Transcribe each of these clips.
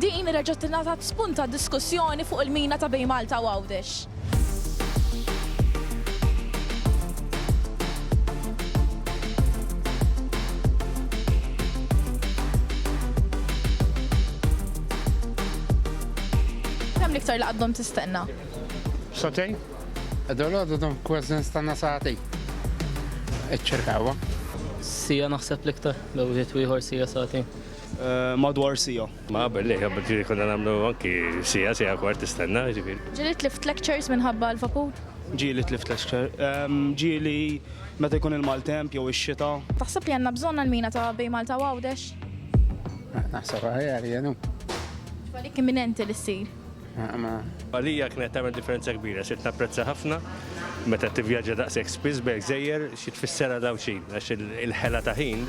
Din reġgħet tingħatat spunt għal diskussjoni fuq il-mina ta' bejn Malta u Għawdex. Kemm l-iktar li għaddhom tistenna? Sa'tejn. Dalgħodu dom kważi nistenna sa'tejn. Iċċirka ewwa. Siegħa naħseb l-iktar, bejn wieħed u ieħor siegħa sa'tejn. madwar sija. Ma qabel li qabel ġiri konna nagħmlu anki sija, sija kwart tistenna ġifieri. Ġieli tlift lectures minħabba l-vapur? Ġieli tlift lecture. Ġieli meta jkun il-maltemp jew ix-xita. Taħseb li għandna bżonn għall-mina ta' bejn Malta u Għawdex? Naħseb aħjar jenu. Għalik imminenti li ssir? Għalija kienet tagħmel differenza kbira, sirt napprezza ħafna meta tivvjaġġa daqshekk spiss bejn gżejjer xi tfisser għal Għawdxin għax il-ħela ta' ħin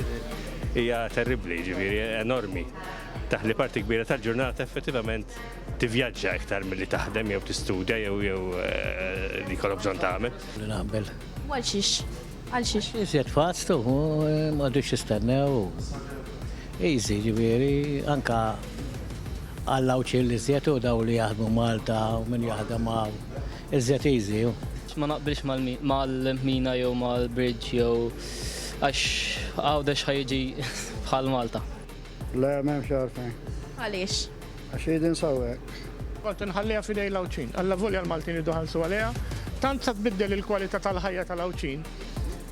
hija terribbli, ġifieri enormi. Taħli parti kbira tal-ġurnata effettivament tivvjaġġa iktar milli taħdem jew tistudja jew jew eh, li jkollok bżonn tagħmel. Li naqbel. Għal xiex? Għal xiex? Iżjed fast u m'għadux jistennew. Easy ġifieri anka għall-għawċ l-iżjed u daw li jaħdmu Malta u min jaħdem hawn. Iżjed easy hu. Ma naqbilx mal-mina jew mal-bridge jew għax Għawdex ħa jiġi bħal Malta. Le, m'hemmx għalfejn. Għaliex? Għax jgħid insawwek. Kont inħalliha f'idej l-Għawdxin. Allavolja l-Maltin jridu jħallsu għaliha, tant sa tbiddel il-kwalità tal-ħajja tal-Għawdxin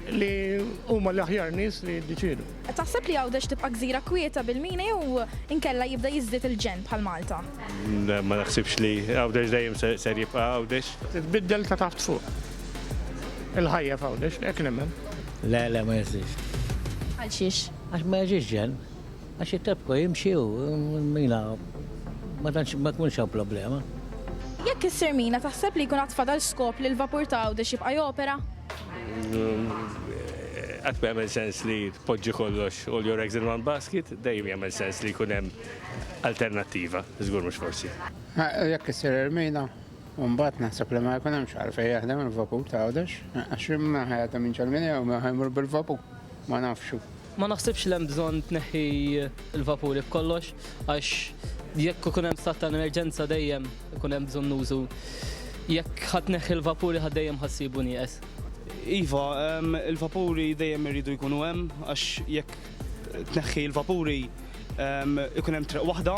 li huma l-aħjar nies li jiddeċiedu. Taħseb li Għawdex tibqa' gżira kwieta bil-mina jew inkella jibda jiżdied il-ġenn bħal Malta? Ma naħsibx li Għawdex dejjem ser jibqa' Għawdex. Titbiddel ta' taħt fuq. Il-ħajja f'Għawdex, hekk nemmen. Le, le, ma jistax. Għalxiex? Għax ma jiġix ġenn. Għax it-tepco jimxi u l-mina ma tantx ma jkunx hawn problema. Jekk issir mina taħseb li jkun għad fadal skop li l-vapur ta' Għawdex jibqa' jopera? Qatt ma jagħmel sens li tpoġġi kollox all your eggs in one basket, dejjem jagħmel sens li jkun hemm alternattiva, żgur mhux forsi. Jekk issir il-mina, imbagħad naħseb li ma jkun hemmx għalfejn jaħdem il-vapur ta' Għawdex, għax min ħa jaħdem jinġel minn hawn, min ħa jmur bil-vapur? Ma nafx. Ma naħsibx li hemm bżonn tneħħi l-vapuri b'kollox għax jekk ikun hemm stat ta' emerġenza dejjem ikun hemm bżonn użu. Jekk ħa tneħħi l-vapuri ħa dejjem ħa ssibu nieqes. Iva, il-vapuri dejjem iridu jkunu hemm għax jekk tneħħi l-vapuri ikun hemm triq waħda.